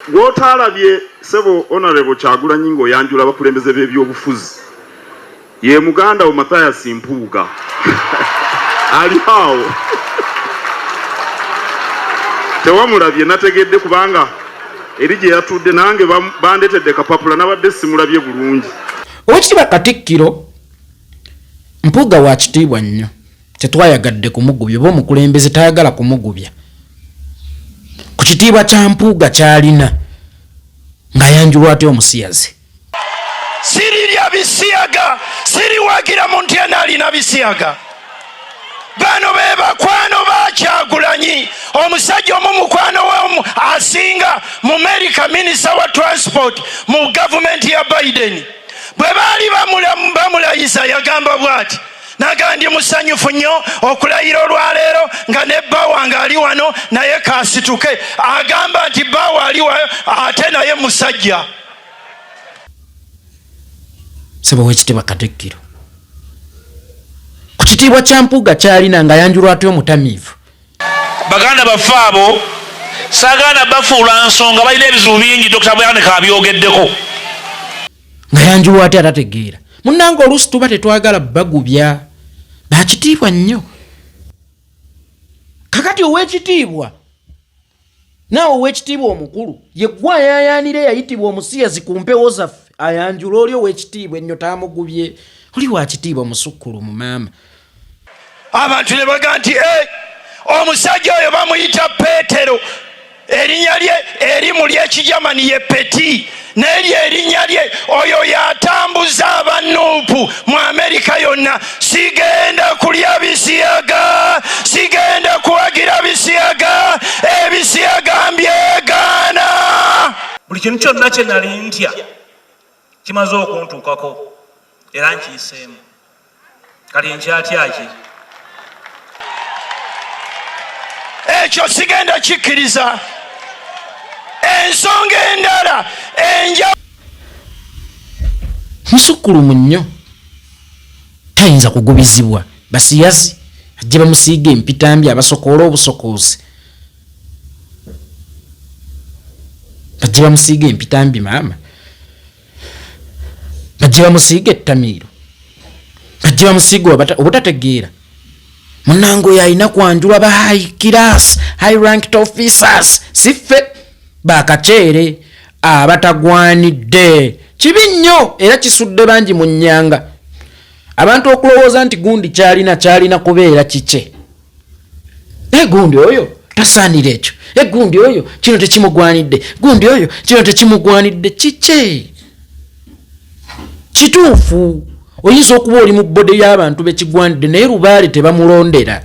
Gwotaalabye sebo Honorable Kyagulanyi ng'oyanjula abakulembeze b'ebyobufuzi ye muganda wo Mathias Mpuuga ali awo tewamulabye nategedde kubanga eri gye yatudde nange bandetedde kapapula nabadde simulabye bulungi. Oweekitiibwa Katikkiro, Mpuuga wa kitiibwa nnyo. tetwayagadde kumugubya oba omukulembeze tayagala kumugubya ku kitiibwa kya mpuuga kyalina ng'ayanjulwa atya omusiyazi sirirya bisiyaga siriwagira muntu yena alina bisiyaga bano be bakwano bakyagulanyi omusajja omu mukwano we asinga mu merika minisita wa transport mu gavumenti ya biden bwe baali bamulayiza yagamba bwati nagamba ndi musanyufu nnyo okulayira olwaleero nga ne bba wange ali wano naye kasituke agamba nti bba waali wayo ate naye musajja sebo wekitiibwa katikkiro ku kitiibwa kya mpuuga kyalina nga yanjulwa atya omutamiivu baganda baffe abo saganda bafuula nsonga balina ebizibu bingi dokita bwanika abyogeddeko nga yanjuwa ate atategeera munange oluusi tuba tetwagala bagubya bakitiibwa nnyo kakati owekitiibwa naawe owekitiibwa omukulu yegwa ayayaanira eyayitibwa omusiyazi ku mpewo zaffe ayanjula oli owekitiibwa ennyo taamugubye oli wakitiibwa musukkulu mu maama abantu ne baga nti eh, omusajja oyo bamuyita peetero erinya lye erimu lyekijamani ye peti neri erinya lye oyo yatambuza abanuupu mu amerika yonna sigenda kulya bisiyaga sigenda kuwagira bisiyaga ebisiyaga mbyegaana buli kintu kyonna kyenali ntya kimaze okuntuukako era nkiyiseemu kati nkyatyaki ekyo sigenda kikkiriza ensonga endala enja musukkulumu nnyo tayinza kugubizibwa basiyazi ajje bamusiiga empitambi abasokoola obusokoozi bajje bamusiiga empitambi maama bajje bamusiiga ettamiiro bajje bamusiiga obutategeera munange oyo alina kwanjulwa ba high class high ranked officers siffe bakaceere abatagwanidde kibi nnyo era kisudde bangi mu nnyanga abantu okulowooza nti gundi kyalina kyalina kubeera kikye naye gundi oyo tasaanira ekyo e gundi oyo kino tekimugwanidde gundi oyo kino tekimugwanidde kikye kituufu oyinza okuba oli mu bode y'abantu bekigwanidde naye lubaale tebamulondera